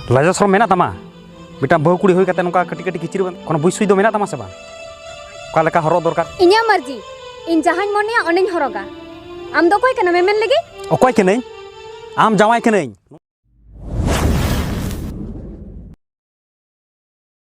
ᱞᱟᱡᱟ ᱥᱚᱨᱚᱢ ᱢᱮᱱᱟᱜ ᱛᱟᱢᱟ ᱢᱤᱫᱴᱟᱝ ᱵᱟᱹᱦᱩ ᱠᱩᱲᱤ ᱦᱩᱭ ᱠᱟᱛᱮ ᱱᱚᱝᱠᱟ ᱠᱟᱹᱴᱤᱡ ᱠᱟᱹᱴᱤᱡ ᱠᱤᱪᱨᱤᱡ ᱵᱟᱝ ᱠᱳᱱᱳ ᱵᱩᱡᱽ ᱥᱩᱡᱽ ᱫᱚ ᱢᱮᱱᱟᱜ ᱛᱟᱢᱟ ᱥᱮ ᱵᱟᱝ ᱚᱠᱟ ᱞᱮᱠᱟ ᱦᱚᱨᱚᱜ ᱫᱚᱨᱠᱟᱨ ᱤᱧᱟᱹᱜ ᱢᱟᱨᱡᱤ ᱤᱧ ᱡᱟᱦᱟᱸᱧ ᱢᱚᱱᱮᱭᱟ ᱚᱱᱟᱧ ᱦᱚᱨᱚᱜᱟ ᱟᱢ ᱫᱚ ᱚᱠᱚᱭ ᱠᱟᱱᱟᱢ ᱮᱢᱮᱱ ᱞᱟᱹᱜᱤᱫ ᱚᱠᱚᱭ ᱠᱟᱹᱱᱟᱹᱧ ᱟᱢ ᱡᱟᱶᱟᱭ ᱠᱟᱹᱱᱟᱹᱧ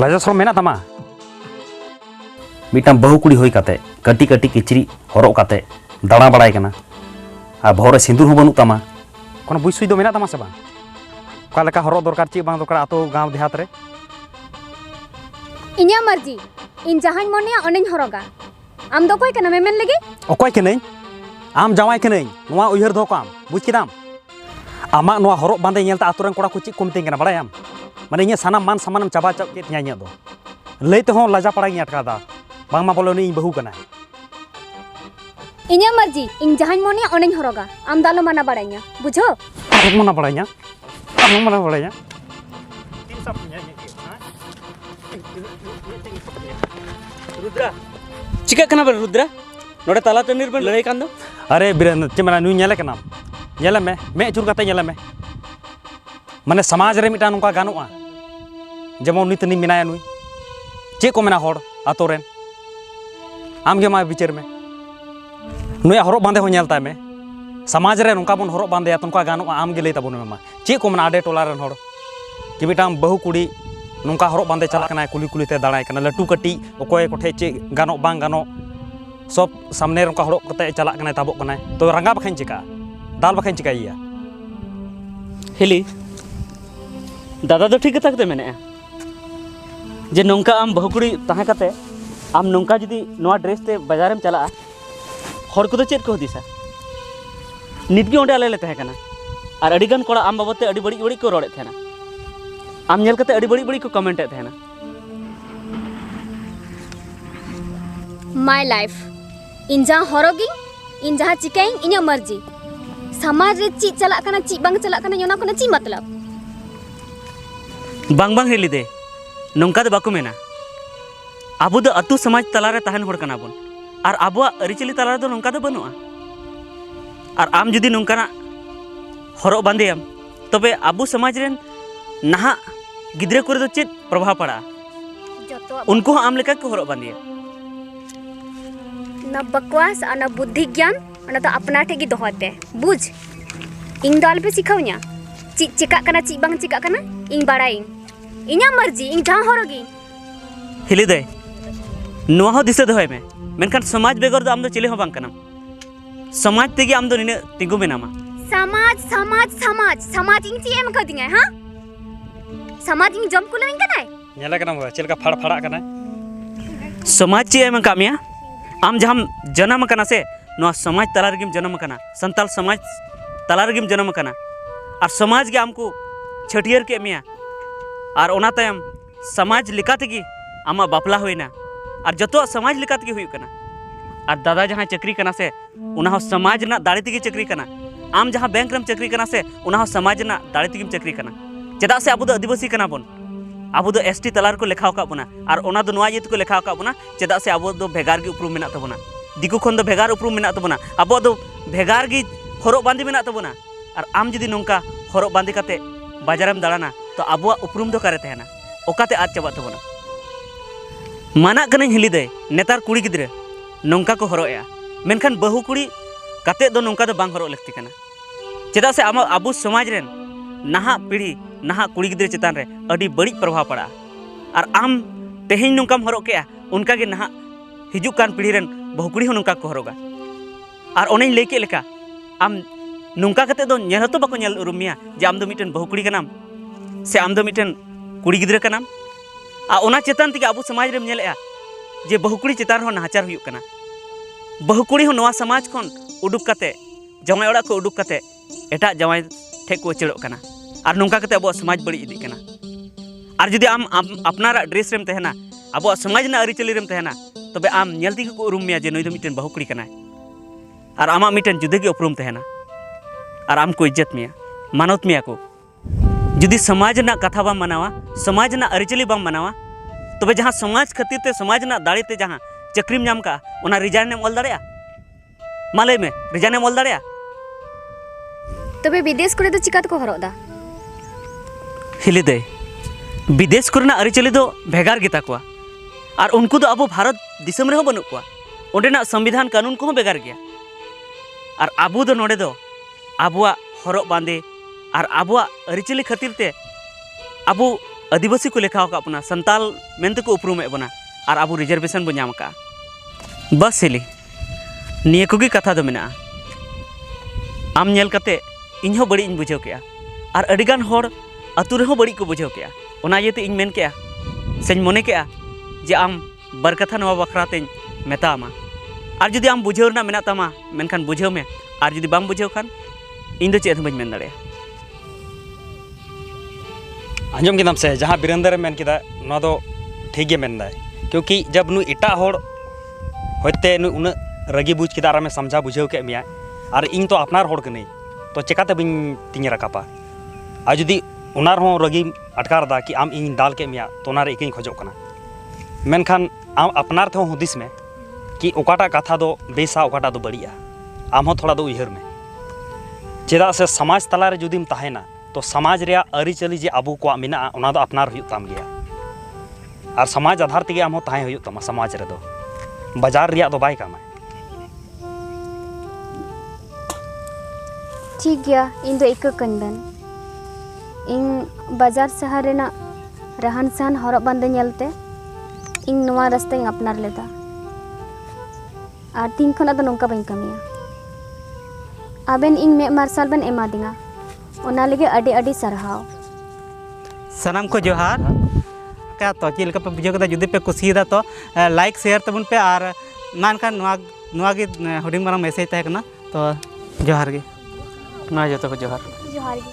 ᱞᱟᱡᱟ ᱥᱚᱨᱚᱢ ᱢᱮᱱᱟᱜ ᱛᱟᱢᱟ ᱢᱤᱫᱴᱟᱝ ᱵᱟᱹᱦᱩ ᱠᱩᱲᱤ ᱦᱩᱭ ᱠᱟᱛᱮ ᱠᱟᱹᱴᱤ ᱠᱟᱹᱴᱤ ᱠᱤᱪᱨᱤᱡ ᱦᱚᱨᱚᱜ ᱠᱟᱛᱮ ᱫᱟᱬᱟ ᱵᱟᱲᱟᱭ ᱠᱟᱱᱟ ᱟᱨ ᱵᱚᱦᱚᱜ ᱨᱮ ᱥᱤᱸᱫᱩᱨ ᱦᱚᱸ ᱵᱟᱹᱱᱩᱜ ᱛᱟᱢᱟ ᱠᱳᱱᱳ ᱵᱩᱡᱽ ᱥᱩᱡᱽ ᱫᱚ ᱢᱮᱱᱟᱜ ᱛᱟᱢᱟ ᱥᱮ ᱵᱟᱝ ᱚᱠᱟ ᱞᱮᱠᱟ ᱦᱚᱨᱚᱜ ᱫᱚᱨᱠᱟᱨ ᱪᱮᱫ ᱵᱟᱝ ᱫᱚᱨᱠᱟᱨ ᱟᱛᱳ ᱜᱟᱶ ᱫᱮᱦᱟᱛ ᱨᱮ ᱤᱧᱟᱹᱜ ᱢᱟᱨᱡᱤ ᱤᱧ ᱡᱟᱦᱟᱸᱧ ᱢᱚᱱᱮᱭᱟ ᱚᱱᱟᱧ ᱦᱚᱨᱚᱜᱟ ᱟᱢ ᱫᱚ ᱚᱠᱚᱭ ᱠᱟᱱᱟᱢ ᱢᱮᱢᱮᱱ ᱞᱟᱹᱜᱤᱫ ᱚᱠᱚᱭ ᱠᱟᱹᱱᱟᱹᱧ ᱟᱢ ᱡᱟᱶᱟᱭ ᱠᱟᱹᱱᱟᱹᱧ ᱱᱚᱣᱟ ᱩᱭᱦᱟᱹᱨ ᱫᱚᱦᱚ ᱠᱟᱜ ᱟᱢ ᱵᱩᱡᱽ ᱠᱮᱫᱟᱢ ᱟᱢᱟᱜ ᱱᱚᱣᱟ ᱦᱚᱨᱚᱜ ᱵᱟᱸᱫᱮ ᱧᱮᱞᱛᱮ ᱟᱛᱳ ᱨᱮᱱ ᱠᱚᱲᱟ ᱠᱚ ᱪᱮᱫ ᱠᱚ ᱢᱤᱛᱟᱹᱧ ᱠᱟᱱᱟ ᱵᱟᱲᱟᱭᱟᱢ ᱢᱟᱱᱮ ᱤᱧᱟᱹᱜ ᱥᱟᱱᱟᱢ ᱢᱟᱱ ᱥᱟᱢᱟᱱᱮᱢ ᱪᱟᱵᱟ ᱦᱚᱪᱚ ᱠᱮᱫ ᱛᱤᱧᱟ ᱤᱧᱟᱹᱜ ᱫᱚ ᱞᱟᱹᱭ ᱛᱮᱦᱚᱸ ᱞᱟᱡᱟ ᱯᱟᱲᱟᱧ ᱟᱴᱠᱟᱨᱫᱟ ᱵᱟᱝᱢᱟ ᱵᱚᱞᱮ ᱩᱱᱤ ᱤᱧ ᱵᱟᱹᱦᱩ ᱠᱟᱱᱟᱭ ᱤᱧᱟᱹᱜ ᱢᱟᱨᱡᱤ ᱤᱧ ᱡᱟᱦᱟᱸᱧ ᱢᱚᱱᱮᱭᱟ ᱚᱱᱟᱧ ᱦᱚᱨᱚᱜᱟ ᱟᱢ ᱫᱚ ᱟᱞᱚ ᱢᱟᱱᱟ ᱵᱟᱲᱟᱭᱧᱟ ᱵᱩᱡᱷᱟᱹᱣ ᱟᱞᱚᱢ ᱢᱟᱱᱟ ᱵᱟᱲᱟᱭᱧᱟ ᱟᱞᱚᱢ ᱢᱟᱱᱟ ᱵᱟᱲᱟᱭᱧᱟ ᱛᱤᱱ ᱥᱟᱵ ᱛᱤᱧᱟ ᱤᱧᱟᱹᱜ ᱜᱮ ᱦᱮᱸ ᱨᱩᱫᱽᱨᱟ ᱪᱤᱠᱟᱹᱜ ᱠᱟᱱᱟ ᱵᱮᱱ ᱨᱩᱫᱽᱨᱟ ᱱᱚᱰᱮ ᱛᱟᱞᱟ ᱴᱟᱺᱰᱤ ᱨᱮᱵᱮᱱ ᱞᱟᱹᱲᱦᱟᱹᱭ ᱠᱟᱱ ᱫᱚ ᱟᱨᱮ ᱵᱤᱨᱮᱱ ᱪᱮᱫ ᱢᱮᱱᱟ ᱱᱩᱭ ᱧᱮᱞᱮ ᱠᱟᱱᱟᱢ ᱧᱮᱞᱮ ᱢᱮ ᱢᱮᱫ ᱪᱩᱨ ᱠᱟᱛᱮ ᱧᱮᱞᱮ ᱢᱮ ᱢᱟᱱᱮ ᱥᱚᱢᱟᱡᱽ ᱨᱮ ᱢᱤᱫᱴᱟᱝ ᱱᱚᱝᱠᱟ ᱜᱟᱱᱚᱜᱼᱟ ᱡᱮᱢᱚᱱ ᱩᱱᱤ ᱛᱟᱹᱱᱤᱡ ᱢᱮᱱᱟᱭᱟ ᱱᱩᱭ ᱪᱮᱫ ᱠᱚ ᱢᱮᱱᱟ ᱦᱚᱲ ᱟᱛᱳ ᱨᱮᱱ ᱟᱢᱜᱮ ᱢᱟ ᱵᱤᱪᱟᱹᱨ ᱢᱮ ᱱᱩᱭᱟᱜ ᱦᱚᱨᱚᱜ ᱵᱟᱸᱫᱮ ᱦᱚᱸ ᱧᱮᱞ ᱛᱟᱭ ᱢᱮ ᱥᱚᱢᱟᱡᱽ ᱨᱮ ᱱᱚᱝᱠᱟ ᱵᱚᱱ ᱦᱚᱨᱚᱜ ᱵᱟᱸᱫᱮᱭᱟ ᱛᱚ ᱱᱚᱝᱠᱟ ᱜᱟᱱᱚᱜᱼᱟ ᱟᱢᱜᱮ ᱞᱟᱹᱭ ᱛᱟᱵᱚᱱ ᱢᱮ ᱢᱟ ᱪᱮᱫ ᱠᱚ ᱢᱮᱱᱟ ᱟᱰᱮ ᱴᱚᱞᱟ ᱨᱮᱱ ᱦᱚᱲ ᱠᱤ ᱢᱤᱫᱴᱟᱝ ᱵᱟᱹᱦᱩ ᱠᱩᱲᱤ ᱱᱚᱝᱠᱟ ᱦᱚᱨᱚᱜ ᱵᱟᱸᱫᱮ ᱪᱟᱞᱟᱜ ᱠᱟᱱᱟᱭ ᱠᱩᱞᱤ ᱠᱩᱞᱤ ᱛᱮ ᱫᱟᱬᱟᱭ ᱠᱟᱱᱟ ᱞᱟᱹᱴᱩ ᱠᱟᱹᱴᱤᱡ ᱚᱠᱚᱭ ᱠᱚᱴᱷᱮᱡ ᱪᱮᱫ ᱜᱟᱱᱚᱜ ᱵᱟᱝ ᱜᱟᱱᱚᱜ ᱥᱚᱵ ᱥᱟᱢᱱᱮ ᱨᱮ ᱚᱱᱠᱟ ᱦᱚᱨᱚᱜ ᱠᱟᱛᱮ ᱪᱟᱞᱟᱜ ᱠᱟᱱᱟᱭ ᱛᱟᱵᱚᱜ ᱠᱟᱱᱟᱭ ᱛᱚ ᱨᱟᱸᱜᱟᱣ ᱵᱟᱠᱷᱟᱱ ᱪᱤᱠᱟᱹᱜᱼᱟ ᱫᱟᱞ ᱵᱟᱠᱷᱟᱱ ᱪᱤᱠᱟᱹᱭᱮᱭᱟ ᱦᱤᱞᱤ ᱫᱟᱫᱟ ᱫᱚ ᱴᱷᱤᱠ ᱠᱟᱛᱷᱟ ᱜᱮᱛᱚ ᱢᱮᱱᱮᱜᱼᱟ ᱡᱮ ᱱᱚᱝᱠᱟ ᱟᱢ ᱵᱟᱹᱦᱩ ᱠᱩᱲᱤ ᱛᱟᱦᱮᱸ ᱠᱟᱛᱮ ᱟᱢ ᱱᱚᱝᱠᱟ ᱡᱩᱫᱤ ᱱᱚᱣᱟ ᱰᱨᱮᱥ ᱛᱮ ᱵᱟᱡᱟᱨᱮᱢ ᱪᱟᱞᱟᱜᱼᱟ ᱦᱚᱲ ᱠᱚᱫᱚ ᱪᱮᱫ ᱠᱚ ᱦᱩᱫᱤᱥᱟ ᱱᱤᱛᱜᱮ ᱚᱸᱰᱮ ᱟᱞᱮ ᱞᱮ ᱛᱟᱦᱮᱸ ᱠᱟᱱᱟ ᱟᱨ ᱟᱹᱰᱤᱜᱟᱱ ᱠᱚᱲᱟ ᱟᱢ ᱵᱟᱵᱚᱫ ᱛᱮ ᱟᱹᱰᱤ ᱵᱟᱹᱲᱤᱡ ᱵᱟᱹᱲᱤᱡ ᱠᱚ ᱨᱚᱲᱮᱫ ᱛᱟᱦᱮᱱᱟ ᱟᱢ ᱧᱮᱞ ᱠᱟᱛᱮ ᱟᱹᱰᱤ ᱵᱟᱹᱲᱤᱡ ᱵᱟᱹᱲᱤᱡ ᱠᱚ ᱠᱚᱢᱮᱱᱴ ᱮᱫ ᱛᱟᱦᱮᱱᱟ ᱢᱟᱭ ᱞᱟᱭᱤᱯᱷ ᱤᱧ ᱡᱟᱦᱟᱸ ᱦᱚᱨᱚᱜᱤᱧ ᱤᱧ ᱡᱟᱦᱟᱸ ᱪᱤᱠᱟᱹᱭᱤᱧ ᱤᱧᱟᱹᱜ ᱢᱟᱨᱡᱤ ᱥᱟᱢᱟᱡᱽ ᱨᱮ ᱪᱮᱫ ᱪᱟᱞᱟᱜ ᱠᱟᱱᱟ ᱪᱮᱫ ᱵᱟᱝ ᱪᱟᱞᱟᱜ ᱠᱟᱱᱟ ᱚᱱᱟ ᱠᱷᱚᱱᱟᱜ ᱪᱮᱫ ᱢᱚᱛᱞᱚᱵ ᱵᱟᱝ ᱵᱟᱝ ᱦᱤᱞᱤ ᱫᱮ ᱱᱚᱝᱠᱟ ᱫᱚ ᱵᱟᱠᱚ ᱢᱮᱱᱟ ᱟᱵᱚ ᱫᱚ ᱟᱹᱛᱩ ᱥᱚᱢᱟᱡᱽ ᱛᱟᱞᱟᱨᱮ ᱛᱟᱦᱮᱱ ᱦᱚᱲ ᱠᱟᱱᱟ ᱵᱚᱱ ᱟᱨ ᱟᱵᱚᱣᱟᱜ ᱟᱹᱨᱤᱪᱟᱹᱞᱤ ᱛᱟᱞᱟ ᱨᱮᱫᱚ ᱱᱚᱝᱠᱟ ᱫᱚ ᱵᱟᱹᱱᱩᱜᱼᱟ ᱟᱨ ᱟᱢ ᱡᱩᱫᱤ ᱱᱚᱝᱠᱟᱱᱟᱜ ᱦᱚᱨᱚᱜ ᱵᱟᱸᱫᱮᱭᱟᱢ ᱛᱚᱵᱮ ᱟᱵᱚ ᱥᱚᱢᱟᱡᱽ ᱨᱮᱱ ᱱᱟᱦᱟᱜ ᱜᱤᱫᱽᱨᱟᱹ ᱠᱚᱨᱮ ᱫᱚ ᱪᱮᱫ ᱯᱨᱚᱵᱷᱟᱵᱽ ᱯᱟᱲᱟᱜᱼᱟ ᱩᱱᱠᱩ ᱦᱚᱸ ᱟᱢ ᱞᱮᱠᱟ ᱠᱚ ᱦᱚᱨᱚᱜ ᱵᱟᱸᱫᱮᱭᱟ ᱚᱱᱟ ᱵᱟᱠᱣᱟᱥ ᱚᱱᱟ ᱵᱩᱫᱽᱫᱷᱤ ᱜᱮᱭᱟᱱ ᱚᱱᱟ ᱫᱚ ᱟᱯᱱᱟᱨ ᱴᱷᱮᱡ ᱜᱮ ᱫᱚᱦᱚᱭ ᱯᱮ ᱵᱩᱡᱽ ᱤᱧ ᱫᱚ ᱟᱞᱚᱯᱮ ᱪᱤᱠᱟᱹᱣᱧᱟ ᱪᱮᱫ ᱪᱤᱠᱟᱹᱜ ᱠᱟᱱᱟ ᱪᱮᱫ ᱵᱟᱝ ᱪᱤᱠᱟᱹᱜ ᱠᱟᱱᱟ ᱤᱧ ᱵᱟᱲᱟᱭᱟᱹᱧ ᱤᱧᱟᱹᱜ ᱢᱟᱨᱡᱤ ᱤᱧ ᱡᱟᱦᱟᱸ ᱦᱚᱨᱚᱜᱤᱧ ᱦᱤᱞᱤ ᱫᱟᱹᱭ ᱱᱚᱣᱟ ᱦᱚᱸ ᱫᱤᱥᱟᱹ ᱫᱚᱦᱚᱭ ᱢᱮ ᱢᱮᱱᱠᱷᱟᱱ ᱥᱚᱢᱟᱡᱽ ᱵᱮᱜᱚᱨ ᱫᱚ ᱟᱢ ᱫᱚ ᱪᱤᱞᱤ ᱦᱚᱸ ᱵᱟᱝ ᱠᱟᱱᱟᱢ ᱥᱚᱢᱟᱡᱽ ᱛᱮᱜᱮ ᱟᱢ ᱫᱚ ᱱᱤᱱᱟᱹᱜ ᱛᱤᱸᱜᱩ ᱢᱮᱱᱟᱢᱟ ᱥᱚᱢᱟᱡᱽ ᱥᱚᱢᱟᱡᱽ ᱥᱚᱢᱟᱡᱽ ᱥᱚᱢᱟᱡᱽ ᱤᱧ ᱪᱮᱫ ᱮᱢ ᱠᱟᱹᱫᱤᱧᱟᱭ ᱦᱟᱸ ᱥᱚᱢᱟᱡᱽ ᱤᱧ ᱡᱚᱢ ᱠᱩᱞᱟᱹᱣᱤᱧ ᱠᱟᱱᱟᱭ ᱧᱮᱞᱮ ᱠᱟᱱᱟᱢ ᱵᱟᱵᱟ ᱪᱮᱫ ᱞᱮᱠᱟ ᱯᱷᱟᱲ ᱯᱷᱟᱲᱟᱜ ᱠᱟᱱᱟᱭ ᱥᱚᱢᱟᱡᱽ ᱪᱮᱫ ᱮᱢ ᱠᱟᱜ ᱢᱮᱭᱟ ᱟᱢ ᱡᱟᱦᱟᱸᱢ ᱡᱟᱱᱟᱢ ᱟᱠᱟᱱᱟ ᱥᱮ ᱱᱚᱣᱟ ᱥᱚᱢᱟᱡᱽ ᱛᱟᱞᱟ ᱨᱮᱜᱮᱢ ᱡᱟᱱᱟᱢ ᱟᱠᱟᱱᱟ ᱥᱟᱱᱛᱟᱲ ᱥᱚᱢᱟᱡᱽ ᱛᱟᱞᱟ ᱨᱮᱜᱮᱢ ᱡᱟᱱᱟᱢ ᱟᱠᱟᱱᱟ ᱟᱨ ᱥᱚᱢᱟᱡᱽ ᱜᱮ ᱟᱢ ᱠᱚ ᱪᱷᱟᱹᱴᱭᱟᱹᱨ ᱠᱮᱫ ᱢᱮᱭᱟ ᱟᱨ ᱚᱱᱟ ᱛᱟᱭᱚᱢ ᱥᱚᱢᱟᱡᱽ ᱞᱮᱠᱟ ᱛᱮᱜᱮ ᱟᱢᱟᱜ ᱵᱟᱯᱞᱟ ᱦᱩᱭᱱᱟ ᱟᱨ ᱡᱚᱛᱚᱣᱟᱜ ᱥᱚᱢᱟᱡᱽ ᱞᱮᱠᱟ ᱛᱮᱜᱮ ᱦᱩᱭᱩᱜ ᱠᱟᱱᱟ ᱟᱨ ᱫᱟᱫᱟ ᱡᱟᱦᱟᱸ ᱪᱟᱹᱠᱨᱤ ᱠᱟᱱᱟ ᱥᱮ ᱚᱱᱟ ᱦᱚᱸ ᱥᱚᱢᱟᱡᱽ ᱨᱮᱱᱟᱜ ᱫᱟᱲᱮ ᱛᱮᱜᱮ ᱪᱟᱹᱠᱨᱤ ᱠᱟᱱᱟ ᱟᱢ ᱡᱟᱦᱟᱸ ᱵᱮᱝᱠ ᱨᱮᱢ ᱪᱟᱹᱠᱨᱤ ᱠᱟᱱᱟ ᱥᱮ ᱚᱱᱟ ᱦᱚᱸ ᱥᱚᱢᱟᱡᱽ ᱨᱮᱱᱟᱜ ᱫᱟᱲᱮ ᱛᱮᱜᱮᱢ ᱪᱟᱹᱠᱨᱤ ᱠᱟᱱᱟ ᱪᱮᱫᱟᱜ ᱥᱮ ᱟᱵᱚ ᱫᱚ ᱟᱹᱫᱤᱵᱟᱹᱥᱤ ᱠᱟᱱᱟ ᱵᱚᱱ ᱟᱵᱚ ᱫᱚ ᱮᱥ ᱴᱤ ᱛᱟᱞᱟ ᱨᱮᱠᱚ ᱞᱮᱠᱷᱟ ᱟᱠᱟᱫ ᱵᱚᱱᱟ ᱟᱨ ᱚᱱᱟ ᱫᱚ ᱱᱚᱣᱟ ᱤᱭᱟᱹ ᱛᱮᱠᱚ ᱞᱮᱠᱷᱟ ᱟᱠᱟᱫ ᱵᱚᱱᱟ ᱪᱮᱫᱟᱜ ᱥᱮ ᱟᱵᱚ ᱫᱚ ᱵᱷᱮᱜᱟᱨ ᱜᱮ ᱩᱯᱨᱩᱢ ᱢᱮᱱᱟᱜ ᱛᱟᱵᱚᱱᱟ ᱫᱤᱠᱩ ᱠᱷᱚᱱ ᱫᱚ ᱵᱷᱮᱜᱟᱨ ᱩᱯᱨᱩᱢ ᱢᱮᱱᱟᱜ ᱛᱟᱵᱚᱱᱟ ᱟᱵᱚᱣᱟᱜ ᱫᱚ ᱵᱷᱮᱜᱟᱨ ᱜᱮ ᱦᱚᱨᱚᱜ ᱵᱟᱸᱫᱮ ᱢᱮᱱᱟᱜ ᱛᱟᱵᱚᱱᱟ ᱟᱨ ᱟᱢ ᱡᱩᱫᱤ ᱱᱚᱝᱠᱟ ᱦᱚᱨᱚᱜ ᱵᱟᱸᱫᱮ ᱠᱟᱛᱮ ᱵᱟᱡᱟᱨᱮᱢ ᱫᱟᱬᱟᱱᱟ ᱛᱚ ᱟᱵᱚᱣᱟᱜ ᱩᱯᱨᱩᱢ ᱫᱚ ᱚᱠᱟᱨᱮ ᱛᱟᱦᱮᱱᱟ ᱚᱠᱟᱛᱮ ᱟᱫ ᱪᱟᱵᱟᱜ ᱛᱟᱵᱚᱱᱟ ᱢᱟᱱᱟᱜ ᱠᱟᱹᱱᱟᱹᱧ ᱦᱤᱞᱤ ᱫᱟᱹᱭ ᱱᱮᱛᱟᱨ ᱠᱩᱲᱤ ᱜᱤᱫᱽᱨᱟᱹ ᱱᱚᱝᱠᱟ ᱠᱚ ᱦᱚᱨᱚᱜ ᱮᱜᱼᱟ ᱢᱮᱱᱠᱷᱟᱱ ᱵᱟᱹᱦᱩ ᱠᱩᱲᱤ ᱠᱟᱛᱮ ᱫᱚ ᱱᱚᱝᱠᱟ ᱫᱚ ᱵᱟᱝ ᱦᱚᱨᱚᱜ ᱞᱟᱹᱠᱛᱤ ᱠᱟᱱᱟ ᱪᱮᱫᱟᱜ ᱥᱮ ᱟᱢᱟᱜ ᱟᱵᱚ ᱥᱚᱢᱟᱡᱽ ᱨᱮᱱ ᱱᱟᱦᱟᱜ ᱯᱤᱲᱦᱤ ᱱᱟᱦᱟᱜ ᱠᱩᱲᱤ ᱜᱤᱫᱽᱨᱟᱹ ᱪᱮᱛᱟᱱ ᱨᱮ ᱟᱹᱰᱤ ᱵᱟᱹᱲᱤᱡ ᱯᱨᱚᱵᱷᱟᱵᱽ ᱯᱟᱲᱟᱜᱼᱟ ᱟᱨ ᱟᱢ ᱛᱮᱦᱮᱧ ᱱᱚᱝᱠᱟᱢ ᱦᱚᱨᱚᱜ ᱠᱮᱜᱼᱟ ᱚᱱᱠᱟᱜᱮ ᱱᱟᱦᱟᱜ ᱦᱤᱡᱩᱜ ᱠᱟᱱ ᱯᱤᱲᱦᱤ ᱨᱮᱱ ᱵᱟᱹᱦᱩ ᱠᱩᱲᱤ ᱦᱚᱸ ᱱᱚᱝᱠᱟ ᱠᱚ ᱦᱚᱨᱚᱜᱟ ᱟᱨ ᱚᱱᱮᱧ ᱞᱟᱹᱭ ᱠᱮᱫ ᱞᱮᱠᱟ ᱟᱢ ᱱᱚᱝᱠᱟ ᱠᱟᱛᱮ ᱫᱚ ᱧᱮᱞ ᱦᱚᱸᱛᱚ ᱵᱟᱠᱚ ᱧᱮᱞ ᱩᱨᱩᱢ ᱢᱮᱭᱟ ᱡᱮ ᱟᱢ ᱫᱚ ᱢᱤᱫᱴᱮᱱ ᱵᱟᱹᱦᱩ ᱠᱩᱲᱤ ᱠᱟᱱᱟᱢ ᱥᱮ ᱟᱢ ᱫᱚ ᱢᱤᱫᱴᱮᱱ ᱠᱩᱲᱤ ᱜᱤᱫᱽᱨᱟᱹ ᱠᱟᱱᱟᱢ ᱟᱨ ᱚᱱᱟ ᱪᱮᱛᱟᱱ ᱛᱮᱜᱮ ᱟᱵᱚ ᱥᱚᱢᱟᱡᱽ ᱨᱮᱢ ᱧᱮᱞᱮᱜᱼᱟ ᱡᱮ ᱵᱟᱹᱦᱩ ᱠᱩᱲᱤ ᱪᱮᱛᱟᱱ ᱨᱮᱦᱚᱸ ᱱᱟᱦᱟᱪᱟᱨ ᱦᱩᱭᱩᱜ ᱠᱟᱱᱟ ᱵᱟᱹᱦᱩ ᱠᱩᱲᱤ ᱦᱚᱸ ᱱᱚᱣᱟ ᱥᱚᱢᱟᱡᱽ ᱠᱷᱚᱱ ᱩᱰᱩᱠ ᱠᱟᱛᱮ ᱡᱟᱶᱟᱭ ᱚᱲᱟᱜ ᱠᱷᱚᱱ ᱩᱰᱩᱠ ᱠᱟᱛᱮ ᱮᱴᱟᱜ ᱡᱟᱶᱟᱭ ᱴᱷᱮᱡ ᱠᱚ ᱩᱪᱟᱹᱲᱚᱜ ᱠᱟᱱᱟ ᱟᱨ ᱱᱚᱝᱠᱟ ᱠᱟᱛᱮ ᱟᱵᱚᱣᱟᱜ ᱥᱚᱢᱟᱡᱽ ᱵᱟᱹᱲᱤᱡ ᱤᱫᱤᱜ ᱠᱟᱱᱟ ᱟᱨ ᱡᱩᱫᱤ ᱟᱢ ᱟᱯᱱᱟᱨᱟᱜ ᱰᱨᱮᱥ ᱨᱮᱢ ᱛᱟᱦᱮᱱᱟ ᱟᱵᱚᱣᱟᱜ ᱥᱚᱢᱟᱡᱽ ᱨᱮᱱᱟᱜ ᱟᱹᱨᱤᱪᱟᱹᱞᱤ ᱨᱮᱢ ᱛᱟᱦᱮᱱᱟ ᱛᱚᱵᱮ ᱟᱢ ᱧᱮᱞ ᱛᱮᱜᱮ ᱠᱚ ᱩᱨᱩᱢ ᱢᱮᱭᱟ ᱡᱮ ᱱᱩᱭ ᱫᱚ ᱢᱤᱫᱴᱮᱱ ᱵᱟᱹᱦᱩ ᱠᱩᱲᱤ ᱠᱟᱱᱟᱭ ᱟᱨ ᱟᱢᱟᱜ ᱢᱤᱫᱴᱮᱱ ᱡᱩᱫᱟᱹ ᱜᱮ ᱩᱯᱨᱩᱢ ᱛᱟᱦᱮᱱᱟ ᱟᱨ ᱟᱢ ᱠᱚ ᱤᱡᱽᱡᱚᱛ ᱢᱮᱭᱟ ᱢᱟᱱᱚᱛ ᱢᱮᱭᱟ ᱠᱚ ᱡᱩᱫᱤ ᱥᱚᱢᱟᱡᱽ ᱨᱮᱱᱟᱜ ᱠᱟᱛᱷᱟ ᱵᱟᱢ ᱢᱟᱱᱟᱣᱟ ᱥᱚᱢᱟᱡᱽ ᱨᱮᱱᱟᱜ ᱟᱹᱨᱤᱪᱟᱹᱞᱤ ᱵᱟᱢ ᱢᱟᱱᱟᱣᱟ ᱛᱚᱵᱮ ᱡᱟᱦᱟᱸ ᱥᱚᱢᱟᱡᱽ ᱠᱷᱟᱹᱛᱤᱨ ᱛᱮ ᱥᱚᱢᱟᱡᱽ ᱨᱮᱱᱟᱜ ᱫᱟᱲᱮ ᱛᱮ ᱡᱟᱦᱟᱸ ᱪᱟᱹᱠᱨᱤᱢ ᱧᱟᱢ ᱠᱟᱜᱼᱟ ᱚᱱᱟ ᱨᱤᱡᱟᱭᱤᱱ ᱮᱢ ᱚᱞ ᱫᱟᱲᱮᱭᱟᱜᱼᱟ ᱢᱟ ᱞᱟᱹᱭ ᱢᱮ ᱨᱤᱡᱟᱭᱤᱱ ᱮᱢ ᱚᱞ ᱫᱟᱲᱮᱭᱟᱜᱼᱟ ᱛᱚᱵᱮ ᱵᱤᱫᱮᱥ ᱠᱚᱨᱮ ᱫᱚ ᱪᱤᱠᱟ ᱛᱮᱠᱚ ᱦᱚᱨᱚᱜ ᱫᱟ ᱦᱤᱞᱤ ᱫᱟᱹᱭ ᱵᱤᱫᱮᱥ ᱠᱚᱨᱮᱱᱟᱜ ᱟᱹᱨᱤᱪᱟᱹᱞᱤ ᱫᱚ ᱵᱷᱮᱜᱟᱨ ᱜᱮᱛᱟ ᱠᱚᱣᱟ ᱟᱨ ᱩᱱᱠᱩ ᱫᱚ ᱟᱵᱚ ᱵᱷᱟᱨᱚᱛ ᱫᱤᱥᱚᱢ ᱨᱮᱦᱚᱸ ᱵᱟᱹᱱᱩᱜ ᱠᱚᱣᱟ ᱚᱸᱰᱮᱱᱟᱜ ᱥᱚᱝᱵᱤᱫᱷᱟᱱ ᱠᱟᱹᱱᱩᱱ ᱠᱚᱦᱚᱸ ᱵᱷᱮᱜᱟᱨ ᱜᱮᱭᱟ ᱟᱨ ᱟᱵᱚ ᱫᱚ ᱱᱚᱰᱮ ᱫᱚ ᱟᱵᱚᱣᱟᱜ ᱦᱚᱨᱚᱜ ᱵᱟᱸᱫᱮ ᱟᱨ ᱟᱵᱚᱣᱟᱜ ᱟᱹᱨᱤᱪᱟᱹᱞᱤ ᱠᱷᱟᱹᱛᱤᱨ ᱛᱮ ᱟᱵᱚ ᱟᱹᱫᱤᱵᱟᱹᱥᱤ ᱠᱚ ᱞᱮᱠᱷᱟ ᱟᱠᱟᱫ ᱵᱚᱱᱟ ᱥᱟᱱᱛᱟᱞ ᱢᱮᱱᱛᱮ ᱠᱚ ᱩᱯᱨᱩᱢᱮᱫ ᱵᱚᱱᱟ ᱟᱨ ᱟᱵᱚ ᱨᱤᱡᱟᱨᱵᱷᱮᱥᱚᱱ ᱵᱚᱱ ᱧᱟᱢ ᱟᱠᱟᱫᱼᱟ ᱵᱟᱥ ᱦᱤᱞᱤ ᱱᱤᱭᱟᱹ ᱠᱚᱜᱮ ᱠᱟᱛᱷᱟ ᱫᱚ ᱢᱮᱱᱟᱜᱼᱟ ᱟᱢ ᱧᱮᱞ ᱠᱟᱛᱮ ᱤᱧ ᱦᱚᱸ ᱵᱟᱹᱲᱤᱡ ᱤᱧ ᱵᱩᱡᱷᱟᱹᱣ ᱠᱮᱜᱼᱟ ᱟᱨ ᱟᱹᱰᱤ ᱜᱟᱱ ᱦᱚᱲ ᱟᱛᱳ ᱨᱮᱦᱚᱸ ᱵᱟᱹᱲᱤᱡ ᱠᱚ ᱵᱩᱡᱷᱟᱹᱣ ᱠᱮᱜᱼᱟ ᱚᱱᱟ ᱤᱭᱟᱹᱛᱮ ᱤᱧ ᱢᱮᱱ ᱠᱮᱜᱼᱟ ᱥᱮᱧ ᱢᱚᱱᱮ ᱠᱮᱜᱼᱟ ᱡᱮ ᱟᱢ ᱵᱟᱨ ᱠᱟᱛᱷᱟ ᱱᱚᱣᱟ ᱵᱟᱠᱷᱨᱟ ᱛᱮᱧ ᱢᱮᱛᱟ ᱟᱢᱟ ᱟᱨ ᱡᱩᱫᱤ ᱟᱢ ᱵᱩᱡᱷᱟᱹᱣ ᱨᱮᱱᱟᱜ ᱢᱮᱱᱟᱜ ᱛᱟᱢᱟ ᱢᱮᱱᱠᱷᱟᱱ ᱵᱩᱡᱷᱟᱹᱣ ᱢᱮ ᱟᱨ ᱡᱩᱫᱤ ᱵᱟᱢ ᱵᱩᱡᱷᱟᱹᱣ ᱠᱷᱟᱱ ᱤᱧ ᱫᱚ ᱪᱮᱫ ᱦᱚᱸ ᱵᱟᱹᱧ ᱢᱮᱱ ᱫᱟᱲᱮᱭᱟᱜᱼᱟ ᱟᱸᱡᱚᱢ ᱠᱮᱫᱟᱢ ᱥᱮ ᱡᱟᱦᱟᱸ ᱵᱤᱨᱮᱱᱫᱨᱮ ᱢᱮᱱ ᱠᱮᱫᱟ ᱱᱚᱣᱟ ᱫᱚ ᱴᱷᱤᱠ ᱜᱮ ᱢᱮᱱᱫᱟᱭ ᱠᱤᱭᱩᱠᱤ ᱡᱟᱵ ᱱᱩᱭ ᱮᱴᱟᱜ ᱦᱚᱲ ᱦᱚᱭᱛᱮ ᱱᱩᱭ ᱩᱱᱟᱹᱜ ᱨᱟᱹᱜᱤ ᱵᱩᱡᱽ ᱠᱮᱫᱟ ᱟᱨ ᱟᱢᱮ ᱥᱟᱢᱡᱷᱟᱣ ᱵᱩᱡᱷᱟᱹᱣ ᱠᱮᱫ ᱢᱮᱭᱟ ᱟᱨ ᱤᱧ ᱛᱚ ᱟᱯᱱᱟᱨ ᱦᱚᱲ ᱠᱟᱹᱱᱟᱹᱧ ᱛᱚ ᱪᱮᱠᱟᱛᱮ ᱵᱟᱹᱧ ᱛᱤᱧ ᱨᱟᱠᱟᱵᱟ ᱟᱨ ᱡᱩᱫᱤ ᱚᱱᱟ ᱨᱮᱦᱚᱸ ᱨᱟᱹᱜᱤᱢ ᱟᱴᱠᱟᱨ ᱮᱫᱟ ᱠᱤ ᱟᱢ ᱤᱧᱤᱧ ᱫᱟᱞ ᱠᱮᱫ ᱢᱮᱭᱟ ᱛᱚ ᱚᱱᱟᱨᱮ ᱤᱠᱟᱹᱧ ᱠᱷᱚᱡᱚᱜ ᱠᱟᱱᱟ ᱢᱮᱱᱠᱷᱟᱱ ᱟᱢ ᱟᱯᱱᱟᱨ ᱛᱮᱦᱚᱸ ᱦᱩᱫᱤᱥ ᱢᱮ ᱠᱤ ᱚᱠᱟᱴᱟᱜ ᱠᱟᱛᱷᱟ ᱫᱚ ᱵᱮᱥᱟ ᱚᱠᱟᱴᱟᱜ ᱫᱚ ᱵᱟᱹᱲᱤᱡᱼᱟ ᱟᱢ ᱦᱚᱸ ᱛᱷᱚᱲᱟ ᱫᱚ ᱩᱭᱦᱟᱹᱨ ᱢᱮ ᱪᱮᱫᱟᱜ ᱥᱮ ᱥᱚᱢᱟᱡᱽ ᱛᱟᱞᱟᱨᱮ ᱡᱩᱫᱤᱢ ᱛᱟᱦᱮᱱᱟ ᱛᱚ ᱥᱚᱢᱟᱡᱽ ᱨᱮᱭᱟᱜ ᱟᱹᱨᱤᱪᱟᱹᱞᱤ ᱡᱮ ᱟᱵᱚ ᱠᱚᱣᱟᱜ ᱢᱮᱱᱟᱜᱼᱟ ᱚᱱᱟ ᱫᱚ ᱟᱯᱱᱟᱨ ᱦᱩᱭᱩᱜ ᱛᱟᱢ ᱜᱮᱭᱟ ᱟᱨ ᱥᱚᱢᱟᱡᱽ ᱟᱫᱷᱟᱨ ᱛᱮᱜᱮ ᱟᱢ ᱦᱚᱸ ᱛᱟᱦᱮᱸ ᱦᱩᱭᱩᱜ ᱛᱟᱢᱟ ᱥᱚᱢᱟᱡᱽ ᱨᱮᱫᱚ ᱵᱟᱡᱟᱨ ᱨᱮᱭᱟᱜ ᱫᱚ ᱵᱟᱭ ᱠᱟᱱᱟ ᱴᱷᱤᱠ ᱜᱮᱭᱟ ᱤᱧ ᱫᱚ ᱤᱠᱟᱹ ᱠᱟᱹᱱᱫᱟᱹᱱ ᱤᱧ ᱵᱟᱡᱟᱨ ᱥᱟᱦᱟᱨ ᱨᱮᱱᱟᱜ ᱨᱟᱦᱟᱱ ᱥᱟᱦᱟᱱ ᱦᱚᱨᱚᱜ ᱵᱟᱸᱫᱮ ᱧᱮᱞᱛᱮ ᱤᱧ ᱱᱚᱣᱟ ᱨᱟᱥᱛᱟᱧ ᱟᱯᱱᱟᱨ ᱞᱮᱫᱟ ᱟᱨ ᱛᱤᱧ ᱠᱷᱚᱱᱟᱜ ᱫᱚ ᱱᱚᱝᱠᱟ ᱵᱟᱹᱧ ᱠᱟᱹᱢᱤᱭᱟ ᱟᱵᱮᱱ ᱤᱧ ᱢᱮᱫ ᱢᱟᱨᱥᱟᱞ ᱵᱮᱱ ᱮᱢᱟᱫᱤᱧᱟ ᱚᱱᱟ ᱞᱟᱹᱜᱤᱫ ᱟᱹᱰᱤ ᱟᱹᱰᱤ ᱥᱟᱨᱦᱟᱣ ᱥᱟᱱᱟᱢ ᱠᱚ ᱡᱚᱦᱟᱨ ᱠᱟ ᱛᱚ ᱪᱮᱫ ᱞᱮᱠᱟ ᱯᱮ ᱵᱩᱡᱷᱟᱹᱣ ᱠᱮᱫᱟ ᱡᱩᱫᱤ ᱯᱮ ᱠᱩᱥᱤᱭᱮᱫᱟ ᱛᱚ ᱞᱟᱭᱤᱠ ᱥᱮᱭᱟᱨ ᱛᱟᱵᱚᱱ ᱯᱮ ᱟᱨ ᱢᱟ ᱮᱱᱠᱷᱟᱱ ᱱᱚᱣᱟ ᱱᱚᱣᱟ ᱜᱮ ᱦᱩᱰᱤᱧ ᱢᱟᱨᱟᱝ ᱢᱮᱥᱮᱡᱽ ᱛᱟᱦᱮᱸ ᱠᱟᱱᱟ ᱛᱚ ᱡᱚᱦᱟᱨ ᱜᱮ ᱢᱟ ᱡᱚᱛᱚ ᱠᱚ ᱡᱚᱦᱟᱨ ᱡᱚᱦᱟᱨ ᱜᱮ